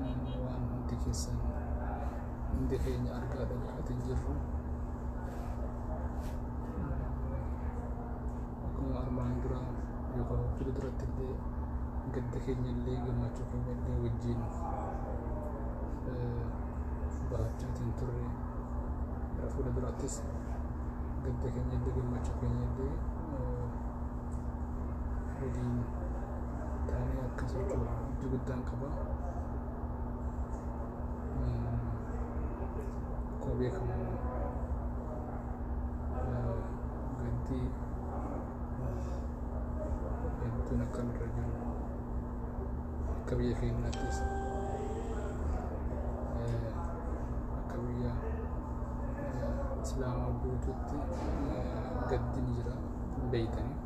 Naannoo waan hundi keessan hundi keenya argaa dhaggeeffatin jirru. Akkuma armaan dura yookaan hojii duratti illee gadda keenya illee gammachuu keenya illee wajjin eh, bahachaa kan turre gara fuula duraattis gadda keenya illee gammachuu keenya illee eh, waliin taanee akka sochoonu abdii guddaan qaba. Akkuma beekamu ganti hedduun akka nurra jiru akka biyya keenyaattis akka biyya islaamaa guutuutti gaddi ni jira. hin beektanii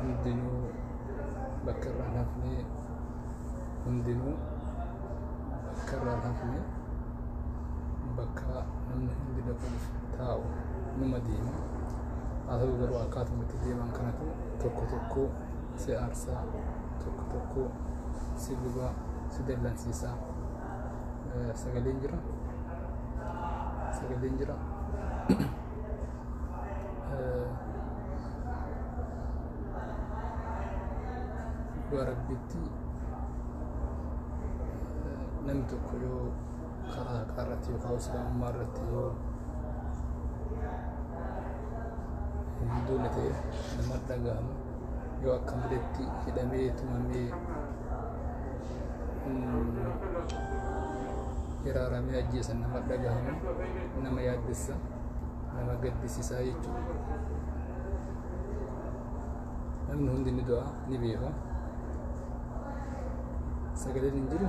hundinuu bakka irraa hin hafne hundinuu bakka irraa hin hafne bakka namni hundi dhaquuf taa'u numa deema haa ta'u garuu akkaatuma itti deeman kanatu tokko tokko si aarsaa tokko tokko si gubaa si dallansiisaa eh, sagaleen jira sagaleen jira Eh, dhugaa rabbitti eh, namni tokko yoo karaa haqaa irratti yookaan islaamummaa irratti yoo hin duune ta'e nama dhagahamu yoo akka maletti hidhamee tumamee hiraaramee ajjeesan nama dhagahamu nama yaaddessa nama gaddisiisaa jechuudha. Namni hundi ni du'a ni beeka. Sagaleen hin jiru.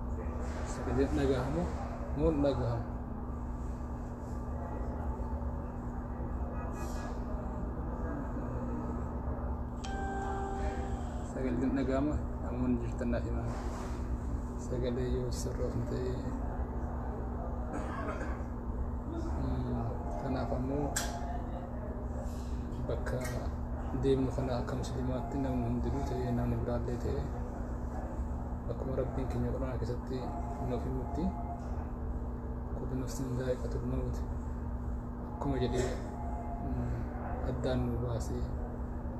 Sagaleen dhagahamu moo hin dhagahamu? Sagaleen dhagahama namoonni jirtan naaf himaa. Sagalee yoo sirroofne ta'e kanaaf ammoo bakka deemnu kana akka musliimaatti namni hundinuu ta'ee namni biraallee ta'ee akkuma rabbiin keenya quraana keessatti nuuf himutti kullu nafsin zaa'iqatul mawt akkuma jedhee addaan nu baasee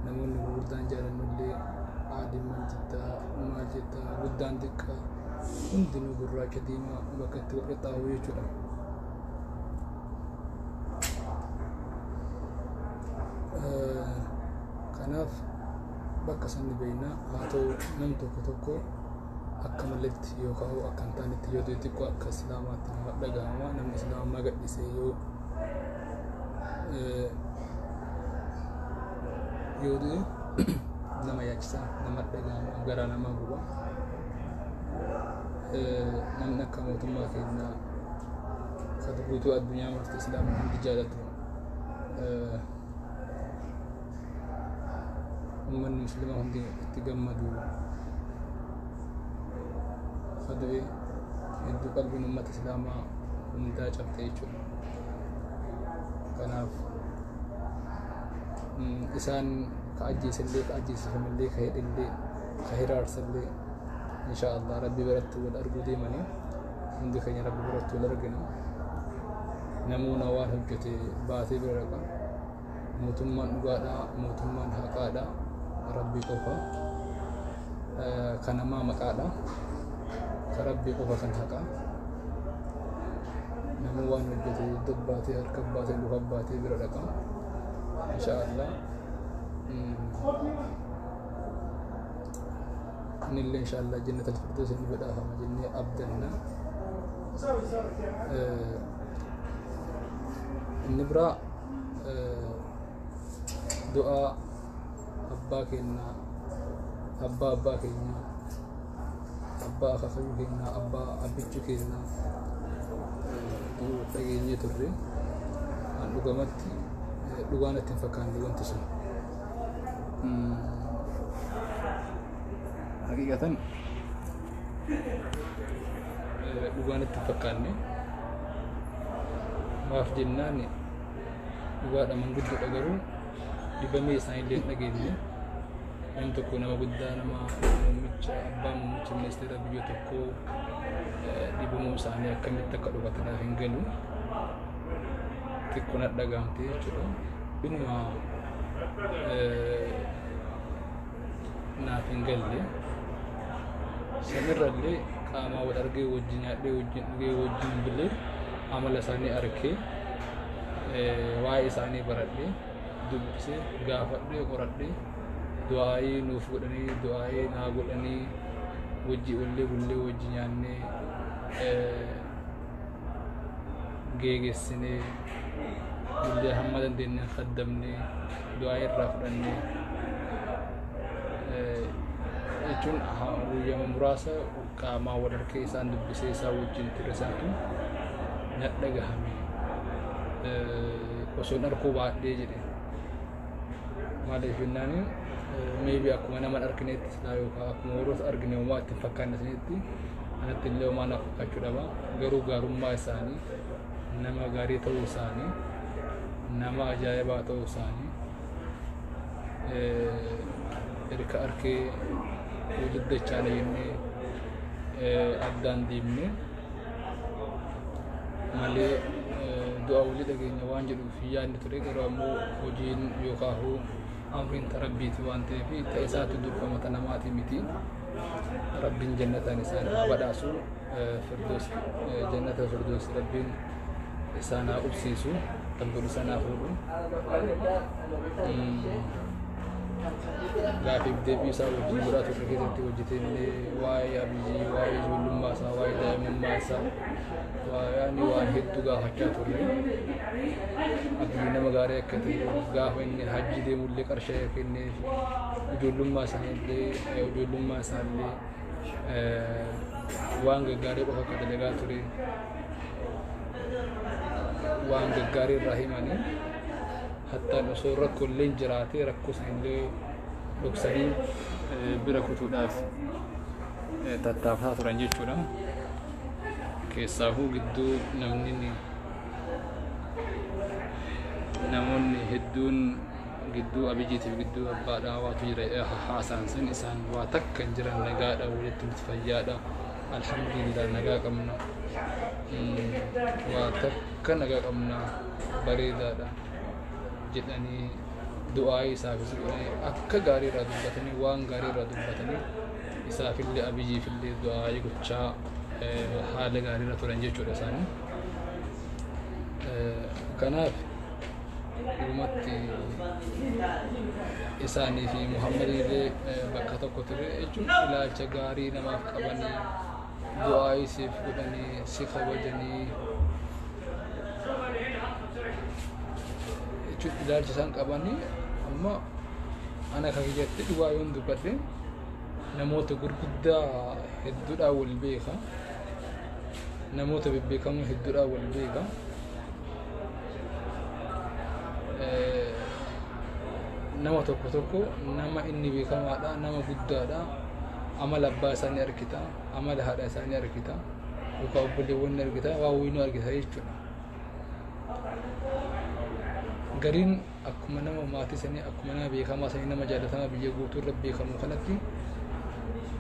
namoonni gurguddaan jaalannullee aadimman jittaa maal jettaa guddaan xiqqaa hundinuu gurraacha diimaa bakka itti wal qixxaawuu jechuudha. kanaaf bakka san ni beekna haa ta'u nam tokko tokko akka maletti yoo ka'u akka hin taanetti yoo ta'e xiqqoo akka islaamaatti nama dhagahama namni islaamummaa gadhisee yoo yoo ta'e nama yaachisa nama dhagahama garaa nama guba namni akka mootummaa keenyaa satu guutuu addunyaa marti islaama hundi jaalatu ummanni muslima hundi itti gammadu kadu'e hedduu qalbiin ummata islaamaa hundaa cabte jechuudha kanaaf isaan ka ajjeesillee ka ajjeesifamallee ka hidhillee ka hiraarsallee inshaa allah rabbii biratti wal arguu deemanii hundi keenya rabbi biratti wal argina namoona waan hojjete baatee bira dhaqa mootummaan dhugaadha mootummaan haqaadha rabbi qofa kan namaa maqaadha ka rabbi qofa kan haqa namuu waan hojjete iddoo baatee harka baatee luka baatee bira dhaqa insha allah inni illee insha Allah jannata al-firdoos inni badhaafama jennee abdanna inni biraa du'aa abbaa keenya abbaa abbaa keenya abbaa akaakayyuu keenya abbaa abbichuu keenya dhageenyee turre an dhugamatti dhugaa natti hin fakkaanne wanti sun Haqiiqatan dhugaan itti fakkaanne maaf jennaan dhugaadha manguddoodha garuu dibamee isaanillee dhageenye namni tokko nama guddaa nama muummicha abbaa muummicha ministeera biyya tokkoo dhibamuu isaanii akkamitti akka dhugatanaa hin galu xiqqoon dhagahamte jechuudha. Dhuma naaf hin galle sanirra illee qaamaa wal argee wajjin nyaadhee wajjin dhugee wajjin bilee amala isaanii arkee waa'ee isaanii baradhee dubbisee gaafadhee qoradhee du'aa'ii nuuf godhanii du'aa'ii naa godhanii wajjii ollee bullee wajji nyaannee geegessinee illee hamma dandeenyeen kaddamnee du'aa irraa fudhannee jechuun guyyama muraasa qaamaa wal harkee isaan dubbisee isaa wajjin ture santu nadha gahame osoo dharkuu baadhee jedhe maaliif jennaan meebii akkuma nama dharkineetti silaa yookaan akkuma warroota argine uumaa ittiin fakkaanne sanitti Anatti illee homaa naaf fakkaachuu dhaba. Garuu gaarummaa isaanii, nama gaarii ta'uu isaanii, nama ajaa'ibaa ta'uu isaanii, erga arkee walitti dachaana jennee addaan deemnee malee du'a walii dhageenya waan jedhuuf yaadni ture garuu ammoo hojiin yookaan amriin tarabbiiti waan ta'eef ta'e isaatti durfamata namaati miti. rabbiin jannataan isaan haa badhaasu firdoos jannata firdoos rabbiin isaan haa qubsiisu kan godhu isaan haa fuudhu gaafiif deebii isaa wajjin biraa tokko keessatti hojjetee illee waa'ee abiyyi waa'ee ijoollummaa isaa waa'ee daa'imummaa isaa waa'ee waan hedduu gaafachaa turre abiyyi nama gaarii akka ta'e gaafa inni hajji deemullee qarshee kenneef ijoollummaa isaa illee Ijoollummaa isaallee waan gaggaarii qofa akka dalagaa ture waan gaggaarii irraa himanii hattaan osoo rakkoollee jiraatee rakkoo sanillee dhoksanii bira kutuudhaaf tattaafataa turan jechuudha. Keessaafuu gidduu namni namoonni hedduun Gidduu Abijiitiif gidduu abbaa dhaawaatu jira eh, haasaan sun isaan waa takka hin jiran nagaadha walitti nuti fayyaadha alhamdulillah nagaa qabna Mm, waa takka nagaa qabna bareedaadha jedhanii du'aa'ii isaafis godhanii akka gaarii irraa dubbatanii waan gaarii irraa dubbatanii isaafillee abiyyiifillee du'aa'ii gochaa eh, haala gaarii irra turan jechuudha isaanii. Eh, Kanaaf dhumatti isaanii fi Muhammad illee bakka tokko ture jechuun ilaalcha gaarii namaaf qabanii du'aa isiif godhanii si kabajanii jechuun ilaalcha isaan qabanii amma ana kan kiyyatti dhugaa yoon dubbadhe namoota gurguddaa hedduudhaan wal beeka namoota bebbeekamoo hedduudhaan wal beeka. nama tokko tokko nama inni beekamaadha nama guddaadha amala abbaa isaa ni argita amala haadha isaa ni argita yookaan obboleewwan ni argita waa wayinuu argita jechuudha gariin akkuma nama maatii sanii akkuma nama beekamaa sanii nama jaalatamaa biyya guutuu irra beekamu kanatti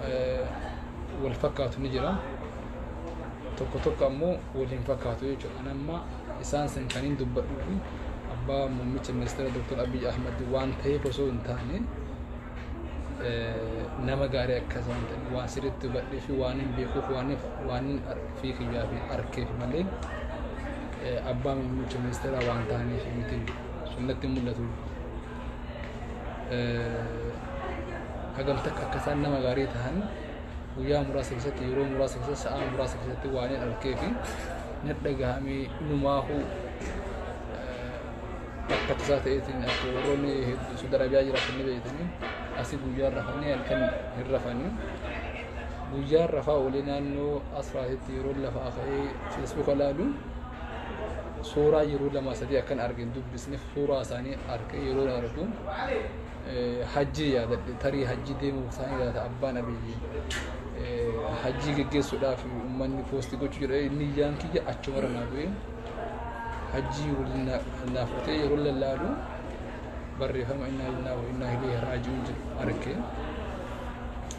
eh, wal fakkaatu ni jira. Tokko tokko ammoo wal hin fakkaatu jechuudha. Ani amma isaan san kan hin dubbadhuu fi abbaa muummicha ministeera Dr. Abiy Ahmad waan ta'eef osoo hin taane eh, nama gaarii akka isaan ta'e waan sirriitti hubadhee fi waan hin beekuuf waan hin- waan hin ar- fi kiyyaa fi harkeef malee abbaa muummicha ministeeraa waan taaneef miti sunnatti mul'atu. Hagam takka akka isaan nama gaarii tahan guyyaa muraasa keessatti yeroo muraasa keessatti sa'aa muraasa keessatti waan hin harkee fi na dhagahamee numaahuu akka tasaa ta'eetiin akka warroonni hedduu sodarabiyaa jiraatan ni beekanii asii guyyaa rafanii halkan hin rafanii. Guyyaan rafaa olii naannoo asraatitti yeroon lafaa ka'ee feesbuuka laalu suuraa yeroo lama sadii akkan arge hin dubbisneef suuraa isaanii arge yeroo argu eh, hajjii yaadadhe tarii hajjii deemuu isaanii yaada abbaan abiyyi eh, hajjii geggeessuudhaaf uummanni poostii gochuu jedhe inni iyyaan kiyya achumarra naa bu'ee hajjii waliin na- kan naaf ta'e yeroo lallaalu barreeffama innaa lillaah wa innaa ilaihi raaji'uun jedhu arge.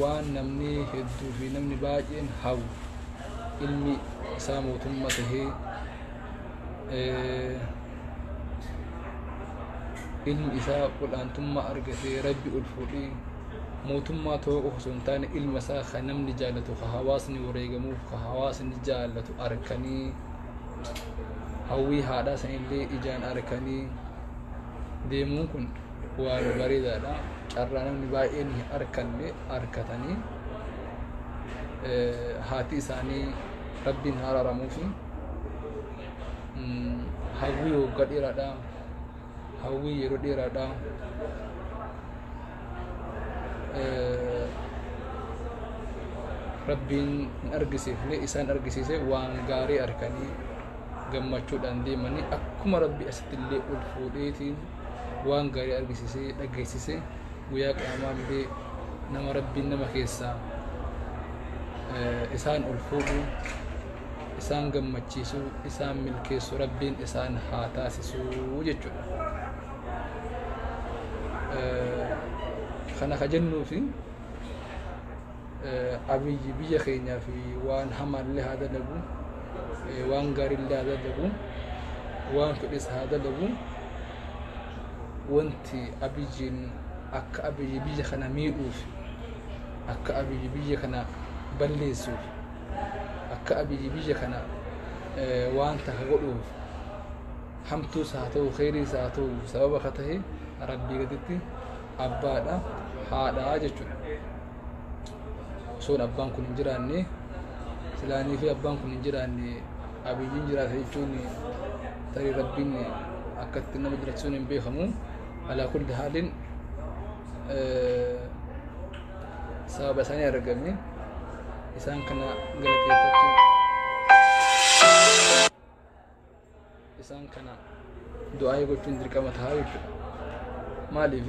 waan namni hedduu fi namni baay'een hawwu ilmi isaa mootummaa tahee ilmi isaa ol'aantummaa argatee rabbi ol fuudhee mootummaa ta'uu qofa osoo hin taane ilma isaa kan namni jaallatu kan hawaasni wareegamuuf kan hawaasni jaallatu arkanii hawwii haadhaa sanillee ijaan arkanii deemuun kun Waan bareedaadha. Carraa namni baay'een hin arkanne arkatanii eh, haati isaanii rabbiin haa araaramuufi Mm, hawwii waggaa dheeraadha. Hawwii yeroo dheeraadha. Eh, rabbiin hin argisiifne isaan argisiise waan gaarii arkanii gammachuudhaan deemanii akkuma rabbi asitti illee ol fuudheetiin waan gaarii argisiisee dhageessise guyyaa qiyaamaa illee nama rabbiin nama keessaa isaan ol fuudhu isaan gammachiisu isaan milkeessu rabbiin isaan haa taasisu jechuudha. Kana ka jennuufi Abiy biyya keenyaaf waan hamaallee haa dalagu, waan gaariillee haa dalagu, waan fedhes haa dalagu. Wanti Abiyyiin akka Abiy biyya kana miidhuuf, akka Abiy biyya kana balleessuuf, akka Abiy biyya kana waan takka godhuuf hamtuus haa ta'u, kheyriis haa ta'u sababa ka tahe Rabbii gaditti abbaadha haadhaa jechuudha osoon abbaan kun hin jiraanne silaanii fi abbaan kun hin jiraanne abiyyiin jiraata jechuun tarii rabbiin akkatti nama jiraachisuun hin beekamu alaa kulli haaliin sababa isaanii argame isaan kana galateeffachuu isaan kana du'aa'ii gochuun dirqama ta'a jechuudha. Maaliif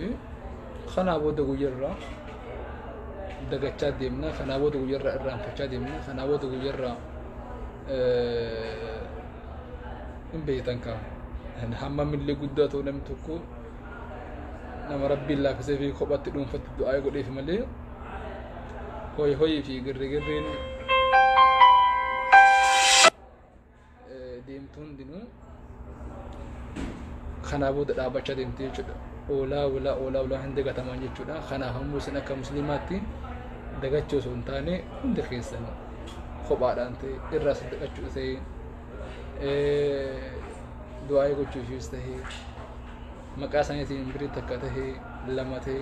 kanaa booda guyyarraa dagachaa deemna, kanaa booda guyyarraa irraanfachaa deemna, kanaa booda guyyarraa hin beektan kaa. Hamma millee guddaa ta'u namni tokko nama rabbiin laaffisee fi kophatti dhuunfatti du'aa godheef malee hoy hoyii fi girrigirriin deemtu hundinuu kanaa booda dhaabbachaa deemti jechuudha. Oolaa oolaa oolaa oolaa hin dagataman jechuudha. Kanaaf ammoo isin akka musliimaatti dagachuu osoo hin taane hundi keessan kophaadhaan ta'e irraa saddaqachuu ta'e du'aa'ee gochuufiis ta'e maqaa isaaniitiin birii takka ta'e lama ta'e